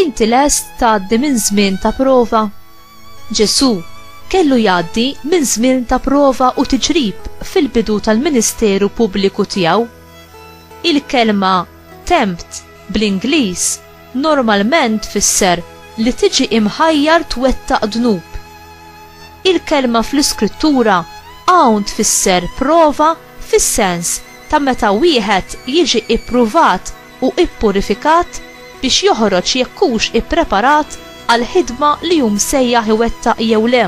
Inti lest tgħaddi minn żmien ta' prova? Ġesù kellu jgħaddi minn żmien ta' prova u tiġrib fil-bidu tal-ministeru pubbliku tiegħu. Il-kelma tempt bl-Ingliż normalment tfisser li tiġi imħajjar twettaq dnub. Il-kelma fl-Iskrittura hawn tfisser prova fis-sens ta' meta wieħed jiġi ippruvat u ippurifikat biex joħroġ jekk hux ippreparat għall-ħidma li hu msejjaħ iwettaq jew le.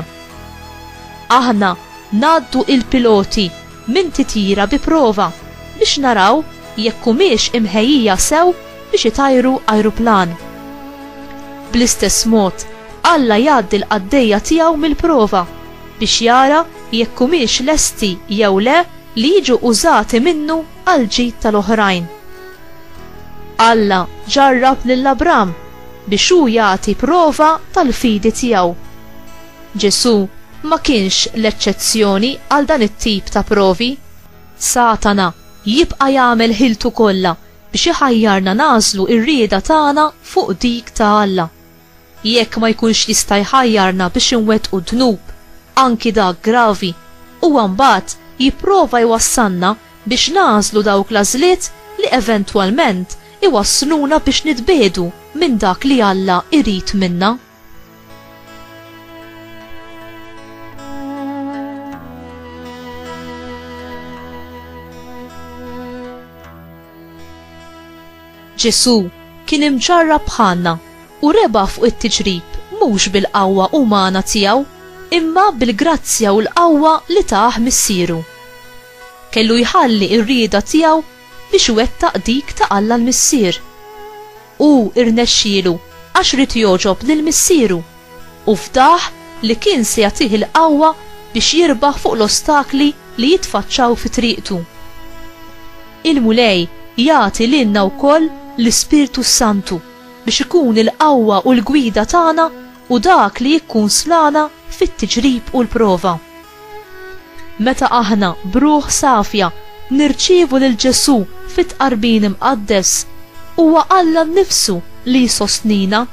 Aħna ngħaddu il-piloti minn titjira bi prova biex naraw jekk humiex imħejjija sew biex itajru ajruplan. Bl-istess mod, Alla jgħaddi l-qaddejja tiegħu mill-prova biex jara jekk humiex lesti jew le li jiġu użati minnu għall-ġid tal-oħrajn. Alla ġarrab lil Abram biex hu jagħti prova tal-fidi tiegħu. Ġesù ma kienx l-eċċezzjoni għal dan it-tip ta' provi. Satana jibqa' jagħmel ħiltu kollha biex iħajjarna nagħżlu r-rieda tagħna fuq dik ta' Alla. Jekk ma jkunx jista' jħajjarna biex inwettqu dnub, anki dak gravi, huwa mbagħad jipprova jwassalna biex nagħżlu dawk l-għażliet li eventwalment iwassluna biex nitbiegħdu minn dak li Alla jrid minna. Ġesù kien imġarrab bħalna u rebaħ fuq it-tiġrib mhux bil-qawwa umana tiegħu imma bil-grazzja u l-qawwa li tah Missieru. Kellu jħalli r-rieda tiegħu biex iwettaq dik ta' Alla l-Missier. Hu rnexxielu għax ried jogħġob lil Missieru. u fdah li kien se jagħtih il-qawwa biex jirbaħ fuq l-ostakli li jitfaċċaw fi triqtu. Il-Mulej jagħti lilna wkoll l-Ispirtu s-Santu biex ikun il-qawwa u l-gwida tagħna u dak li jikkunslana fit-tiġrib u l-prova. Meta aħna, b'ruħ safja, nirċievu lil Ġesù fit-Tqarbin Imqaddes, huwa Alla nnifsu li jsostnina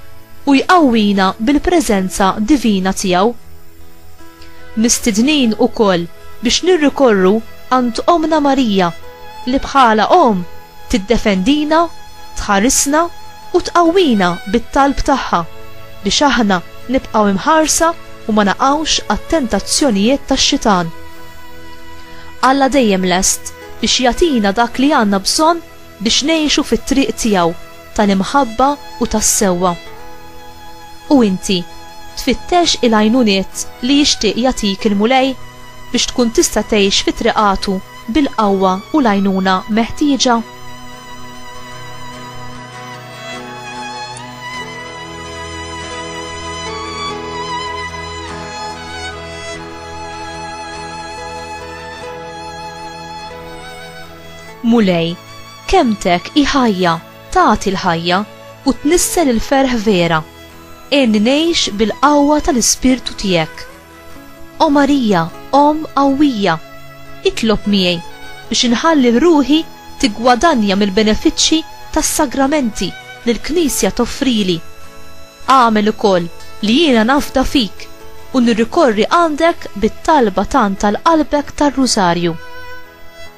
u jqawwina bil-preżenza divina tiegħu. Mistednin ukoll biex nirrikorru għand Ommna Marija, li bħala Omm Tiddefendina, tħarisna u tqawwina bit-talb tagħha biex aħna nibqgħu imħarsa u ma naqgħux għat-tentazzjonijiet tax-Xitan. Alla dejjem lest biex jagħtina dak li għandna bżonn biex ngħixu fit-triq tiegħu tal-imħabba u tas-sewwa. U inti, tfittex il-għajnuniet li jixtieq jagħtik il-Mulej biex tkun tista' tgħix fi triqatu? bil-qawwa u l-għajnuna meħtieġa. Mulej, kemtek hi ħajja, tagħti l-ħajja u tnissel il-ferħ vera. Għenni ngħix bil-qawwa tal-Ispirtu tiegħek. O Marija, Omm qawwija, itlob miegħi biex inħalli ruħi tiggwadanja mill-benefiċċji tas-sagramenti li l-Knisja toffrili. Agħmel ukoll li jiena nafda fik u nirrikorri għandek bit-talba tant għal Qalbek tar-Rużarju.